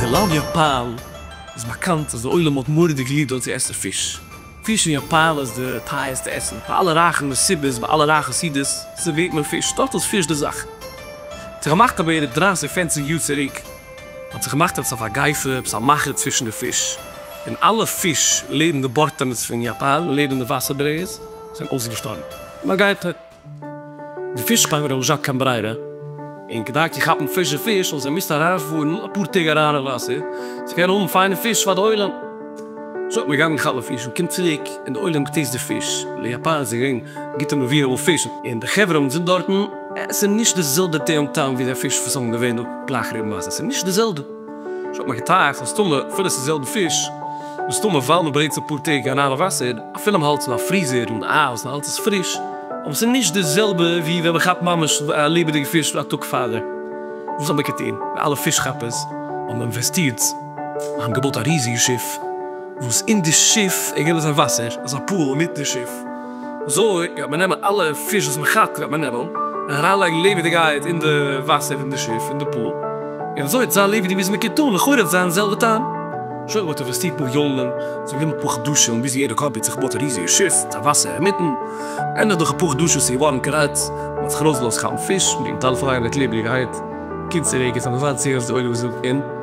טילאפיע פייל איז באקאנט אז די עולם האט מורא'דיג ליב דארט צו עסן פיש. פיש אין יאפאן איז די טייערסטע עסן. פאר אלע רייכע מסיבות, ביי אלע רייכע סעודות, סערווירט מען פיש. דארט איז פיש די זאך. ס'איז געמאכט פאר בערך דרײַסיק פערציג יאר צוריק. האט זיך געמאכט עפעס א פארגייסער, עפעס א מאכער צווישן די פיש, און אלע פיש לעבן די בארטענעס פון יאפאן, לעבן די וואסער ברעיס, זענען אויסגעשטארבן. נאר גייט ער, די פיש פארמער האבן זשאק קיין ברירה, און כדי צו כאפן פרישע פיש האבן זיי געמוזט אריינפארן אפאר טעג אריין אין וואסער צו קענען האבן פיינע פיש פאר די עולם. זשאק מען גייט מען כאפן פיש, מען קומט צוריק און די עולם געטעיסט די פיש, וויל יאפאן איז געווען גוטע מביאים אן פיש, און די חברה וואס זענען דארטן, עס איז נישט די זעלבע טעם טעם ווי די פיש וואס זענען געווען דא גלייך רוב מייזן, עס איז נישט די זעלבע, איך האב מיר געטראכט מסתמא אפילו עס איז די זעלבע פיש, מסתמא ווייל מען ברענגט עס אפאר טעג אריין אין וואסער, אפילו מען האלט עס אין א פריזער און אייז און האלט עס פריש, אבער עס איז נישט די זעלבע ווי ווען מען כאפט ממש א לעבעדיגע פיש א טאג פארדעם, וואס האט מען געטון? ווי אלע פיש כאפערס האבן אינוועסטירט, זיי האבן געבויט א ריזיגע שיף, וואס אין די שיף איז געווען אזא וואסער, אזא פול אינמיטן שיף, אזוי וועט מען נעמען אלע פיש וואס מען כאפט וועט מען נעמען און אריינלייגן לעבעדיגייט אין די וואסער פון די שיף אין די פול און אזוי וועט זיין לעבעדיג ווי עס מקען טון לכאורה וועט זיין די זעלבע טעם. שוין ווען מען האט אינוועסטירט מיליאנען ס'איז גענומען אפאר חדשים ביז יעדע קאמפעני האט זיך געבויט א ריזיגע שיף מיט א וואסער אינמיטן ענדליך דורך אפאר חדשים איז געווארן קארעקט מען האט זיך ארויסגעלאזט כאפן פיש מען קען מיט אלע פרייהייט מיט לעבעדיגייט קומט צוריק און ס'האט מזל טוב די אויגן וואס זעהן און.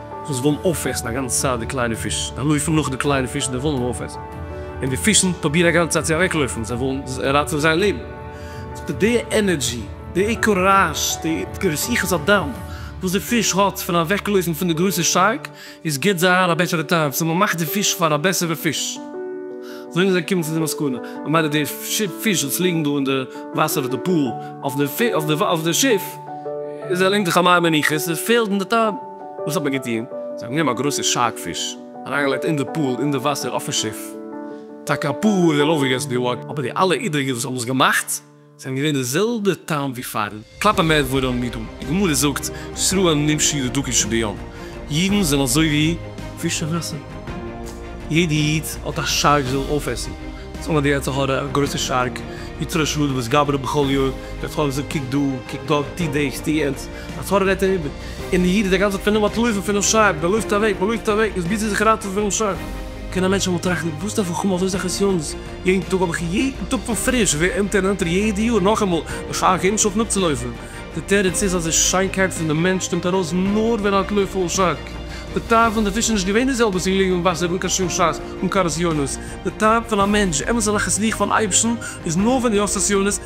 וואס ווילן אויפעסן א גאנצע צייט די קליינע פיש, זיי לויפן נאך די קליינע פיש וואס זיי ווילן אויפעסן, און די פישן פרובירן א גאנצע צייט צו אוועקלויפן, זיי ווילן ראטעווען זייער לעבן. ס'איז די ענערדזשי, די קוראזש, די התגייסות הדם וואס די פיש האט פון אוועקלויפן פון די גרויסע שארק, עס גיבט זיי אהן א בעסערע טעם, ס'איז מ'מאכט די פיש פאר א בעסערע פיש. אזוי זענען זיי געקומען צו די מסקנא, ממילא די פיש וואס ליגן דא אין די וואסער אויף די פאל אויף די שיף, עס דערלענגט זיך א מי מנוחות, עס פעלט אין די טעם. וואס האט מען געטון? זיי האבן גענומען א גרויסע שארק פיש, אריינגעלייגט אין די פול אין די וואסער אויפן שיף, טאקע א פאר אור און אויפגעגעסן די וואג, אבער די אלע אידריגע וואס האבן עס געמאכט זענען געווען די זעלבע טעם ווי פארן קלאפן מער דברים מידום, די גמרא זאגט שרהן נמשי לדקי שביום, אידן זענען אזוי ווי פיש אין וואסער, יעדע איד האט א שארק זי זאל אויפעסן, זאגן אז די יצר הרע א גרויסע שארק, יתרו שדות גברא בכל יום, דער טאג זאגט קוק דא, קוק דארט, טו דאס, טו יענץ, א פארען רעדט אים איבער, און דער איד איז די גאנצע צייט פון אים אנטלויפן פונעם שרייבער, דער לויפט אוועק, מען לויפט אוועק, איז ביז ער איז זיך אריינגעטראפן פונעם שרייבער. קען א מענטש אמאל טראכטן, וואס דארף איך האבן אזוי סאך נסיונות יעדן טאג, האב איך יעדן טאג פון פריש, איך ווער עלטער און עלטער יעדע יאר, נאכאמאל א שייך געבן שאפן אפצולויפן? דער תירוץ איז אז די שיינקייט פון דעם מענטש קומט ארויס נאר ווען ער האט לויף אן שאק. די טעם פון די פיש איז נישט געווען די זעלבע וואס ליגן אין וואסער אן קיין שום שאס, אן קיין נסיונות. די טעם פון א מענטש, אמת'ע נחת רוח פון אייבערשטן, איז נאר ווען דו האסט נסיונות,